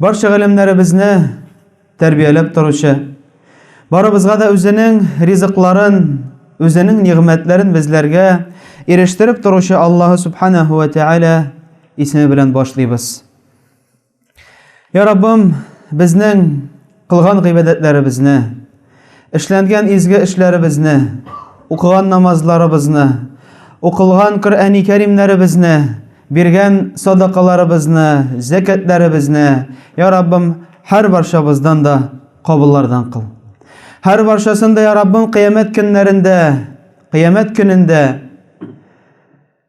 Барча галәмнәребезне тәрбияләп торучы, барыбызга да үзенең ризыкларын, үзенең нигъмәтләрен безләргә ирештереп торучы Аллаһ субханаһу ва тааля исеме белән башлыйбыз. Я Раббым, безнең Кылган гыйбадәтләребезне, эшләнгән изге эшләребезне, укыган намазларыбызны, укылган Коръәни Кәримнәребезне, биргән садакаларыбызны, зәкәтләребезне, я Раббым, һәр барчабыздан да кабуллардан кыл. Һәр барчасын да, я Раббым, кыямәт көннәрендә, кыямәт көнендә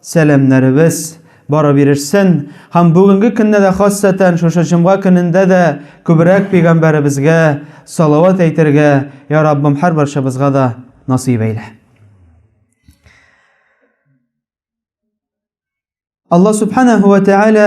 Сәламнәребез барып ирешсен һәм бүгенге көнне дә хасатән шушы җомга көнендә дә күбрәк пигамбәребезгә салават әйтергә я Раббым һәр барчабызга да насыйп әйлә. Алла субханәһү вә тәгалә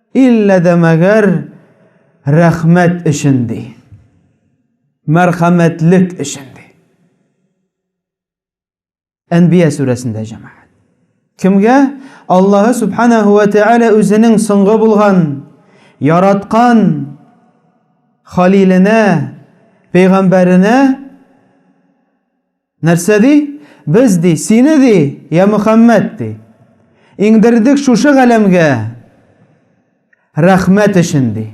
Иллә дә мәгәр рәхмәт өчен, ди. Мәрхәмәтлек өчен, ди. Әнбия сүрәсендә җәмәгать. Кемгә Аллаһы Субханаһу ва Тәгалә үзенең соңгы булган яраткан халиленә, пәйгамбәренә Нәрсә ди? Без, ди, сине, ди, йә Мөхәммәд, ди, иңдердек шушы галәмгә рәхмәт өчен, ди.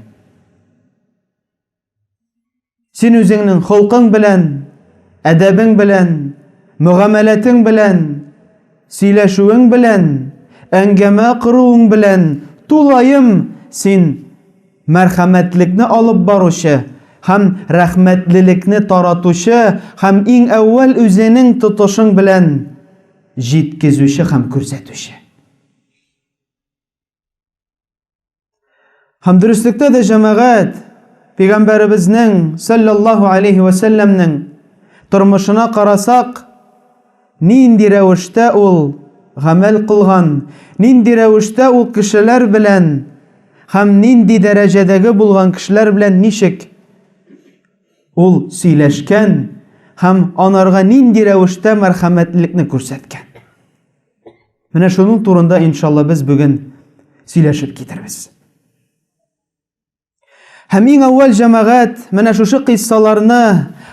Син үзеңнең холкың белән, әдәбең белән, мөгамәләтең белән, сөйләшүең белән, әңгәмә коруың белән тулаем син Мәрхәмәтлекне алып баручы һәм рәхмәтлелекне таратучы һәм иң әүвәл үзенең тотышың белән җиткезүче һәм күрсәтүче. Һәм дөреслектә дә җәмәгать Пәйгамбәребезнең, сәлләллаһу алейһи вә сәлләмнең, тормышына карасак, Нинди рәвештә ул гамәл кылган, нинди рәвештә ул кешеләр белән һәм нинди дәрәҗәдәге булган кешеләр белән ничек ул сөйләшкән һәм анарга нинди рәвештә мәрхәмәтлелекне күрсәткән. Менә шуның турында, иншалла, без бүген сөйләшеп китербез. Һәм иң әүвәл җәмәгать менә шушы кыйссаларны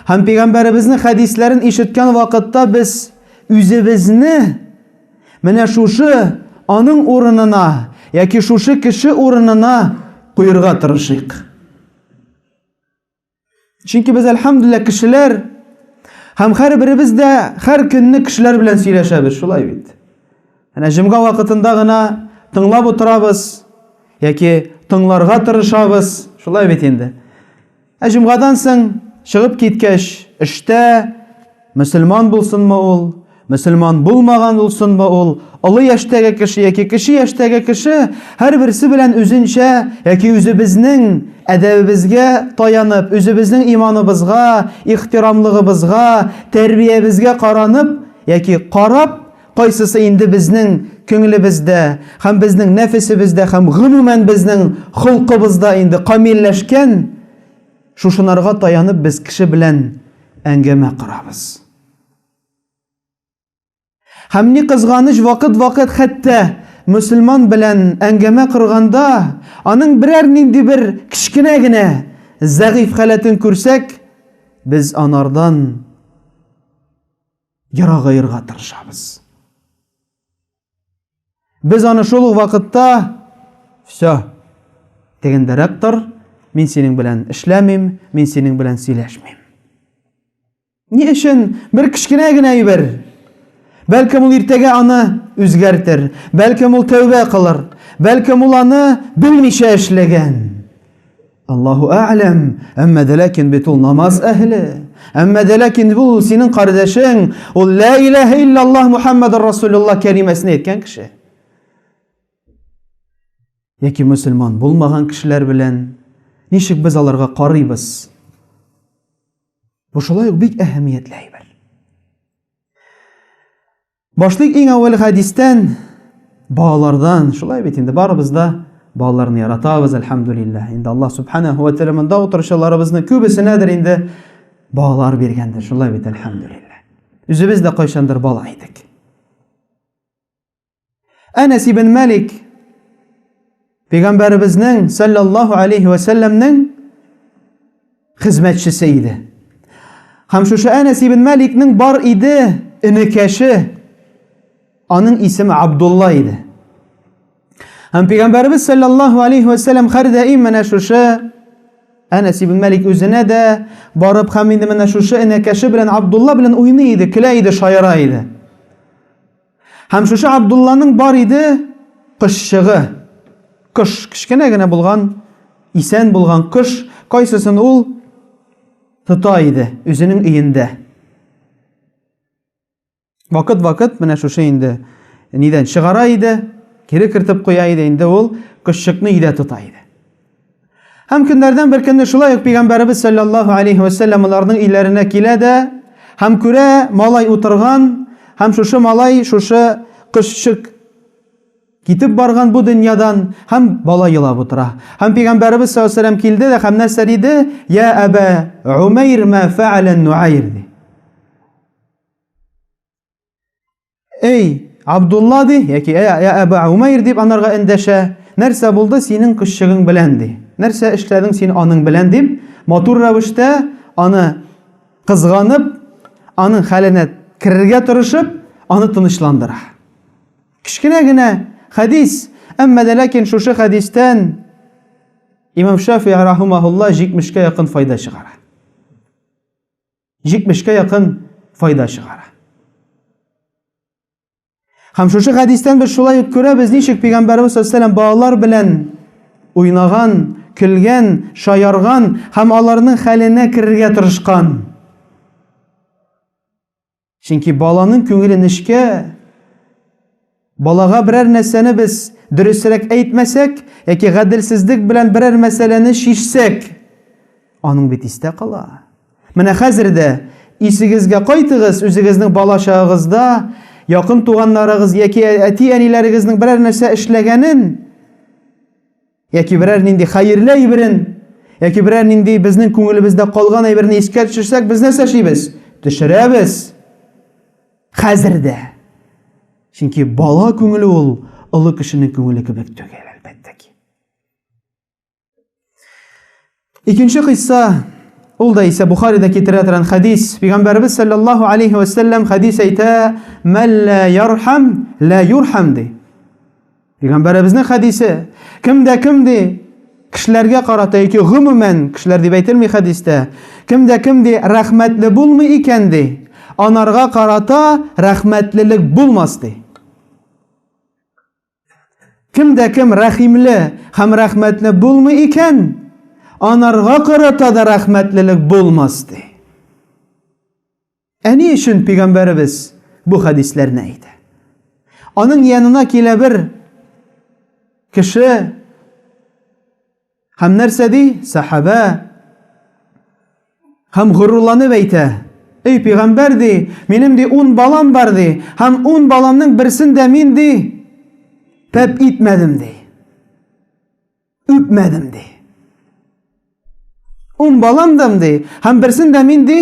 һәм пәйгамбәребезнең хәдисләрен ишеткән вакытта без үзебезне менә шушы аның урынына яки шушы кеше урынына куерга тырышыйк. Чөнки без әлхәмдүлиллә кешеләр һәм һәрберебез дә һәр көнне кешеләр белән сөйләшәбез, шулай бит. Әнә җомга вакытында гына тыңлап утырабыз яки тыңларга тырышабыз, шулай бит инде. Ә җомгадан соң чыгып киткәч, эштә, Мөселман булсынмы ул, мөселман булмаган булсынмы ул, олы яшьтәге кеше яки кече яшьтәге кеше, һәрберсе белән үзенчә яки үзебезнең әдәбебезгә таянып, үзебезнең иманыбызга, ихтирамлыгыбызга, тәрбиябезгә каранып яки карап, кайсысы инде безнең күңелебездә һәм безнең нәфесебездә һәм гомумән безнең холкыбызда инде камилләшкән, Шушынарга таянып без кеше белән әңгәмә корабыз. Һәм ни кызганыч, вакыт-вакыт хәтта мөселман белән әңгәмә корганда, аның берәр нинди бер кечкенә генә зәгыйфь халәтен күрсәк, без анардан ерагаерга тырышабыз. Без аны шул ук вакытта все дигәндәрәп тор, мин синең белән эшләмим, мин синең белән сөйләшмим. Ни өчен бер кечкенә генә әйбер? Бәлкем ул иртәгә аны үзгәртер, бәлкем ул тәүбә кылыр, бәлкем ул аны белмичә эшләгән. Аллаһу әгъләм, әмма дә ләкин бит ул намаз әһеле. Әмма дә ләкин бу синең кардәшең, ул ла илаһа иллаллаһ Мухаммадар Расулуллаһ кәлимәсен әйткән кеше. Яки мусульман булмаган кешеләр белән ничек без аларга карыйбыз? Бу шулай ук бик әһәмиятле әйбер. Башлыйк иң әүвәл хәдистән, балалардан. Шулай бит инде барыбыз да балаларны яратабыз, әлхәмдүлилләһ. Инде Аллаһ субханаһу ва тәгалә монда утыручыларыбызның күбесенәдер инде балалар биргәндер. Шулай бит, әлхәмдүлилләһ. Үзебез дә кайчандыр бала идек. Әнәс ибн Малик Пәйгамбәребезнең саллаллаһу алейхи ва сәлләмнең хезмәтчесе иде. Һәм шушы Әнәс ибн Маликның бар иде энекәше. Аның исеме Абдулла иде. Һәм Пәйгамбәребез саллаллаһу алейхи ва сәлләм һәр даим менә шушы Әнәс ибн Малик үзенә дә барып һәм инде менә шушы энекәше белән Абдулла белән уйный иде, көлә иде, шаяра иде. Һәм шушы Абдулланың бар иде кошчыгы. Кош, кечкенә генә булган, исән булган кош, кайсысын ул тота иде үзенең өендә. Вакыт-вакыт менә шушы инде нидән чыгара иде, кире кертеп куя иде, инде ул кошчыкны өйдә тота иде. Һәм көннәрдән бер көнне шулай ук пәйгамбәребез саллаллаһу алейхи вәсәлләм аларның өйләренә килә дә һәм күрә малай утырган һәм шушы малай шушы кошчык китеп барган бу дөньядан һәм бала елап утыра. Һәм пәйгамбәребез саллаллаһу алейхи вәсәлләм килде дә һәм нәрсә диде? Я Әбә Умәйр ма фәәлә Нуайр ди. Әй, Абдулла ди, яки ә, ә, Әбә Умәйр дип анарга эндәшә. Нәрсә булды синең кошчыгың белән ди. Нәрсә эшләдең син аның белән дип, матур рәвештә аны кызганып, аның хәленә керергә тырышып, аны тынычландыра. Кечкенә генә хәдис, әмма дә ләкин шушы хәдистән Имам Шафи рахимаһулла 70 кә якын файда чыгара. 70-кә якын файда чыгара. Һәм шушы хәдистән без шулай ук күрәбез, ничек пәйгамбәрбез саллаллаһу балалар белән уйнаган, көлгән, шаярган һәм аларның хәленә керергә тырышкан. Чөнки баланың күңеле нечкә, Балага берәр нәрсәне без дөресрәк әйтмәсәк яки гаделсезлек белән берәр мәсьәләне чишсәк, аның бит истә кала. Менә хәзер дә исегезгә кайтыгыз, үзегезнең бала-чагыгызда якын туганнарыгыз яки әти-әниләрегезнең берәр нәрсә эшләгәнен, яки берәр нинди хәерле әйберен, яки берәр нинди безнең күңелебездә калган әйберне искә төшерсәк, без нәрсә эшлибез? Төшерәбез. Хәзер дә. Чөнки бала күңеле ул олы кешенең күңеле кебек түгел, әлбәттә ки. Икенче кыйсса, ул да исә Бухаридә китерә торган хәдис. Пәйгамбәрбез саллаллаһу алейхи ва саллям хәдис әйтә, "Мәллә ярхам, лә юрхам" ди. Пәйгамбәребезнең хәдисе. Кем дә кем ди, кешеләргә карата яки гомумән, кешеләр дип әйтелми хәдистә. Кем дә кем ди, рәхмәтле булмый икән ди, анарга карата рәхмәтлелек булмас ди. Кемдә кем рәхимле һәм рәхмәтле булмый икән, анарга карата да рәхмәтлелек булмас, ди. Ә ни өчен пигамбәребез бу хәдисләрне әйтә? Аның янына килә бер кеше, Һәм нәрсә ди? Сәхабә һәм горурланып әйтә, Эй пигамбәр ди, минем ди ун балам бар ди, һәм ун баламның берсен дә мин ди пәп итмәдем ди. Үпмәдем ди. Ун балам дам ди, һәм берсен дә мин ди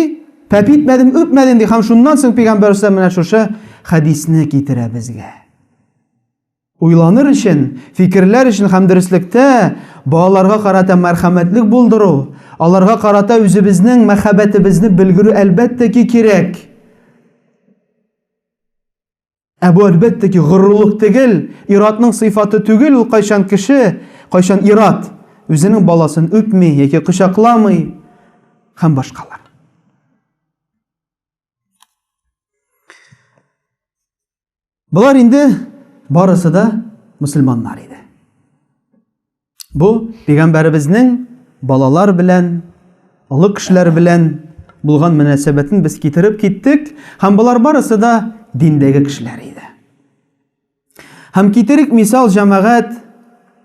пәп итмәдем, үпмәдем ди. Һәм шуннан соң пигамбәр менә шушы хәдисне китерә безгә. Уйланыр өчен, фикерләр өчен һәм дөреслектә балаларга карата мәрхәмәтлек булдыру, аларга карата үзебезнең мәхәббәтебезне белгерү әлбәттә ки кирәк. Ә бу әлбәттә ки горурлык тегел, иратның сыйфаты түгел ул кайчан кеше, кайчан ират үзенең баласын үпми яки кочакламый һәм башкалар. Болар инде барысы да мөселманнар иде. Бу пәйгамбәребезнең балалар белән, олы кешеләр белән булган мөнәсәбәтен без китереп киттек, һәм болар барысы да диндәге кешеләр иде. Һәм китерик мисал җәмәгать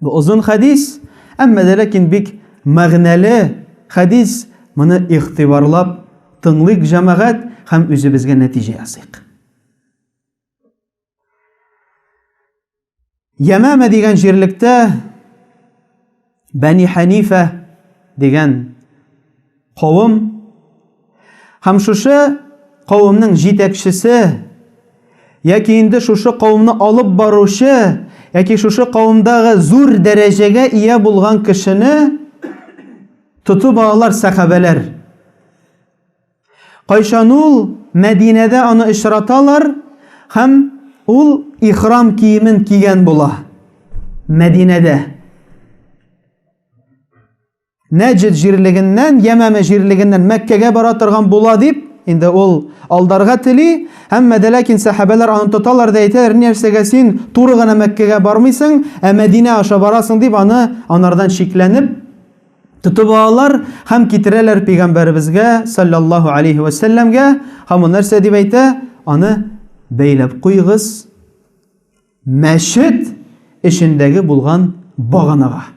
Бу озын хәдис, әмма дә ләкин бик мәгънәле хәдис. Моны игътибарлап тыңлыйк, җәмәгать, һәм үзебезгә нәтиҗә ясыйк. Ямама дигән җирлектә Бәни Хәнифә дигән Кавым һәм шушы кавымның җитәкчесе яки инде шушы кавымны алып баручы яки шушы кавымдагы зур дәрәҗәгә ия булган кешене тотып алалар сәхабәләр. Кайчан ул Мәдинәдә аны очраталар һәм ул ихрам киемен кигән була. Мәдинәдә. Нәҗд җирлегеннән, Ямәмә җирлегеннән Мәккәгә бара торган була дип, инде ул алдарга тели, әмма дә ләкин сәхабәләр аны тоталар да әйтәләр, нәрсәгә син туры гына Мәккәгә бармыйсың, ә Мәдинә аша барасың дип аны анардан шикләнеп тотып алалар һәм китерәләр пәйгамбәребезгә саллаллаһу алейһи ва сәлләмгә һәм ул нәрсә дип әйтә, аны бәйләп куйгыз мәчет эчендәге булган баганага.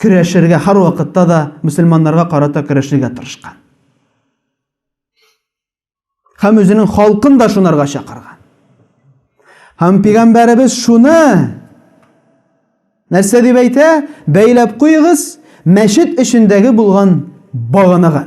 көрәшергә, һәрвакытта да мөселманнарга карата көрәшергә тырышкан. Һәм үзенең халкын да шунарга чакырган. Һәм пигамбәребез шуны нәрсә дип әйтә? Бәйләп куегыз, мәчет эчендәге булган баганага.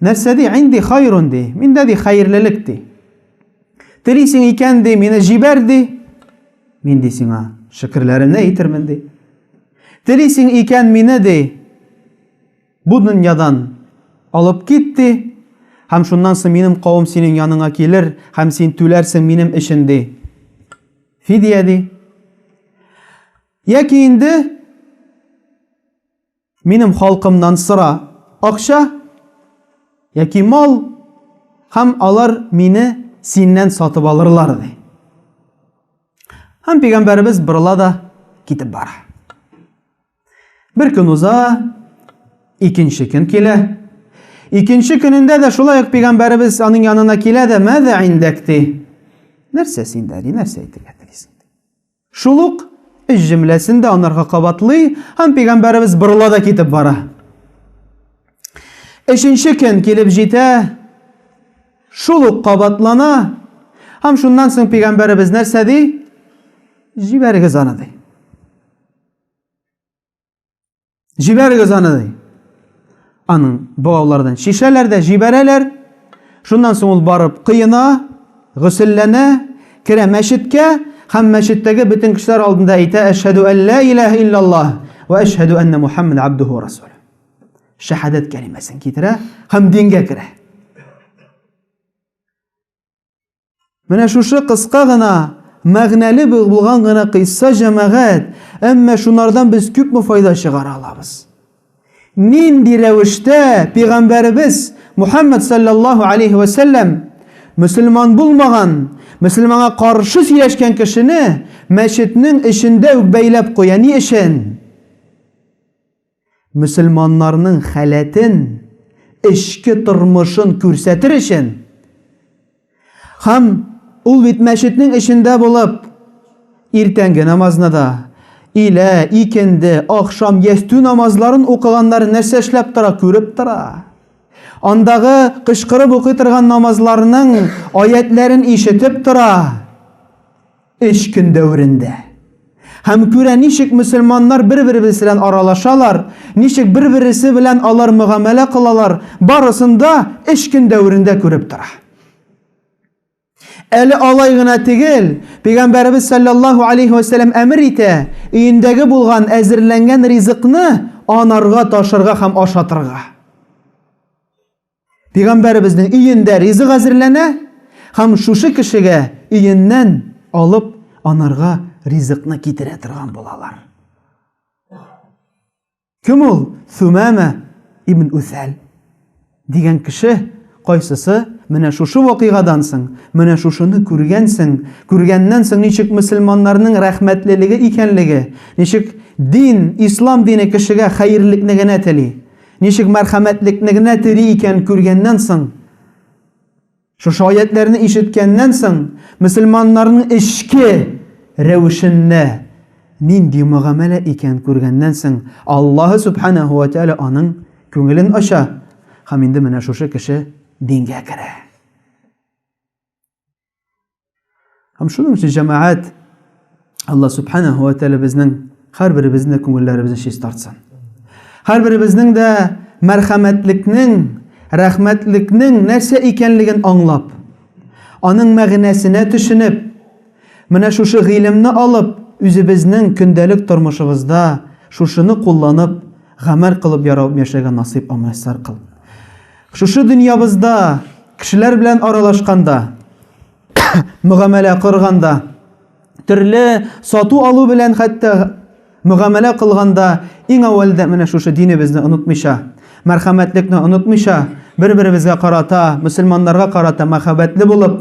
Нәрсә ди? Инди хайрун ди. Миндә ди хәерлелек ди. Телисең икән ди, мине җибәр ди. Мин ди сиңа шөкерләремне әйтермен ди. Телисең икән мине ди. Бу дөньядан алып кит ди. Һәм шуннан соң минем кавым синең яныңа килер, һәм син түләрсең минем өчен ди. Фидия ди. Яки инде Минем халкымнан сора, акча яки мал, һәм алар мине синнән сатып алырлар, ди. Һәм пигамбәребез борыла да китеп бара. Бер көн уза, икенче көн килә. Икенче көнендә дә шулай ук пигамбәребез аның янына килә дә, "Мәзә индәк?" ди. Нәрсә синдә, ди, нәрсә әйтергә телисең? Шул ук өч җөмләсен дә анарга кабатлый һәм пигамбәребез борыла да китеп бара. Өченче көн килеп җитә, шул ук кабатлана һәм шуннан соң пигамбәребез нәрсә ди? Җибәрегез аны ди. Җибәрегез аны ди. Аның богаулардан чишәләр дә җибәрәләр. Шуннан соң ул барып кыена, гөселләнә, керә мәчеткә һәм мәчеттәге бөтен кешеләр алдында әйтә: "Әшһаду алла илаһа иллаллаһ ва әшһаду анна Мухаммад абдуху ва расул". Шәһадәт кәлимәсен китерә һәм дингә керә. Менә шушы кыска гына, мәгънәле булган гына кыйсса җәмәгать, әмма шунардан без күпме файда чыгара алабыз? Нинди рәвештә пигамбәребез Мухаммад саллаллаһу алейхи ва саллям мөселман булмаган, мөселманга каршы сөйләшкән кешене мәчетнең эчендә үк бәйләп куя ни өчен? Мөселманнарның халәтен, эчке тормышын күрсәтер өчен һәм ул бит мәчетнең эчендә булып, иртәнге намазны да, илә, икенде, ахшам, ястү намазларын укыганнар нәрсә эшләп тора, күреп тора. Андагы кычкырып укый торган намазларның аятьләрен ишетеп тора. Эш көн дәверендә. Һәм күрә ничек мөселманнар бер-беребез белән аралашалар, ничек бер-бересе белән алар мөгамәлә кылалар, барысын да эш көн дәверендә күреп тора. Әле алай гына тегел, Пәйгамбәребез салләллаһу алейһи вә сәлләм әмер итә, өендәге булган, әзерләнгән ризыкны анарга ташырга һәм ашатырга. Пәйгамбәребезнең өендә ризык әзерләнә һәм шушы кешегә өеннән алып анарга ризыкны китерә торган булалар. Кем ул? Сумама ибн Усәл дигән кеше Кайсысы? Менә шушы вакыйгадан соң, менә шушыны күргәнсең, күргәннән соң ничек мөселманнарның рәхмәтлелеге икәнлеге, ничек дин, ислам дине кешегә хәерлекне генә тели. Ничек мәрхәмәтлекне генә тери икән күргәннән соң, шушы аятьләрне ишеткәннән соң, мөселманнарның эчке рәвешендә нинди мөгамәлә икән күргәннән соң, Аллаһы Сүбхәнәһү вә Тәгалә аның күңелен ача һәм инде менә шушы кеше дингә керә. Һәм шуның өчен җәмәгать Алла субханаһу ва тәгалә безнең һәрберебезнең дә күңелләребезне чист тартсын. Һәрберебезнең дә мәрхәмәтлекнең, рәхмәтлекнең нәрсә икәнлеген аңлап, аның мәгънәсенә төшенеп, менә шушы гыйлемне алып, үзебезнең көндәлек тормышыбызда шушыны кулланып, гамәл кылып яраып яшәгән насыйп аңлашлар кыл. Шушы дөньябызда кешеләр белән аралашканда, мөгамәлә корганда, төрле сату-алу белән хәтта мөгамәлә кылганда иң әүвәлдә менә шушы динебезне онытмыйча, мәрхәмәтлекне онытмыйча, бер-беребезгә карата, мөселманнарга карата мәхәббәтле булып,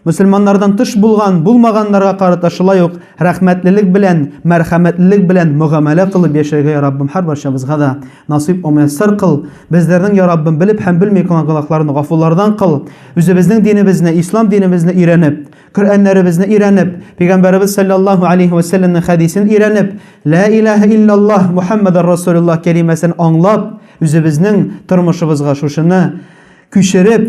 Мөселманнардан тыш булган, булмаганнарга карата шулай ук рәхмәтлелек белән, мәрхәмәтлелек белән мөгамәлә кылып яшәргә, я Раббым, һәрбарчабызга да насыйп омуяссар кыл. Безләрнең, я Раббым, белеп һәм белми кылган гөнаһларын гафулардан кыл. Үзебезнең динебезне, Ислам динебезне өйрәнеп, Коръәннәребезне өйрәнеп, Пәйгамбәребез салләллаһу алейһи вә сәлләмнең хәдисен өйрәнеп, Лә илаһә илляллаһ Мухәммәдәр Расулуллаһ кәлимәсен аңлап, үзебезнең тормышыбызга шушыны күчереп,